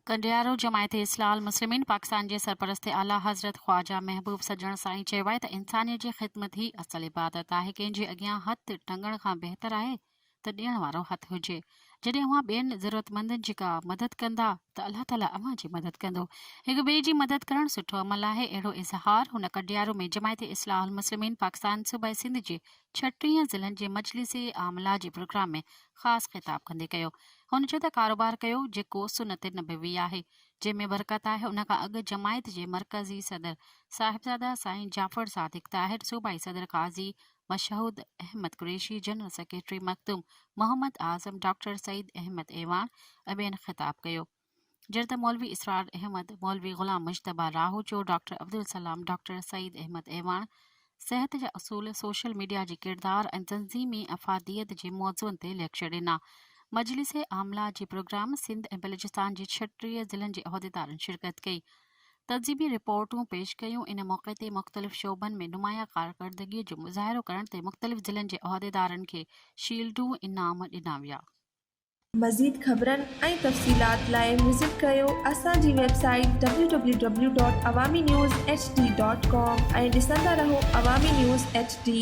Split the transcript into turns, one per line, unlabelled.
ڪنڊيارو، جماعت اصلاح المسلمين پاڪستان جي سرپرست اعليٰ حضرت خواجه محبوب سڄڻ سائين چيو آهي ته انسانيت جي خدمت ئي اصل عبادت آهي، ڪنهن جي اڳيان هٿ ٽنگڻ کان بهتر آهي ته ڏيڻ وارو هٿ هجي. جڏهن اوهان ٻين ضرورتمندن جي ڪا مدد ڪندا ته الله تعاليٰ اوهان جي مدد ڪندو. هڪ ٻئي جي مدد ڪرڻ سٺو عمل آهي اهڙو اظهار هن ڪڊيارو ۾ جماعت اصلاح المسلمين پاڪستان صوبه سنڌ جي ڇٽيهن ضلعن جي مجلس عامله جي پروگرام ۾ خاص خطاب ڪندي ڪيو. هن چيو ته ڪاروبار ڪيو جيڪو سنت نبوي آهي جنهن ۾ برڪت آهي ان کان اڳ جماعت جي مرڪزي صدر صاحبزاده سائين جعفر صادق طاهر صوبائي صدر Qazi Mashhood Ahmed Qureshi, general secretary Makhdoom Muhammad Azam, doctor Saeed Ahmed Awan ۽ ٻين خطاب ڪيو. جڏهن ته مولوي اسرار احمد، مولوي غلام مجتبيٰ لاهوچو، ڊاڪٽر عبدالسلام، ڊاڪٽر سعيد احمد اعواڻ صحت جا اصول، سوشل ميڊيا جي ڪردار ۽ تنظيمي افاديت جي موضوعن تي ليڪچر ڏنا. مجلس عامله جي پروگرام سنڌ ۽ بلوچستان جي ڇٽيهه ضلعن جي عهديدارن شرڪت ڪئي. تنظيمي رپورٽون پيش ڪيون، ان موقعي تي مختلف شعبن ۾ نمايان ڪارڪردگيء جو مظاهرو ڪرڻ تي مختلف ضلعن جي عهديدارن کي شيلڊون انعام ڏنا ويا. مزيد
خبرن ۽ تفصيلات لاء وزٽ ڪريو اسان جي website W W W dot Awami news H D dot com ۽ ڏسندا رهو عوامي نيوز ايڇ ڊي.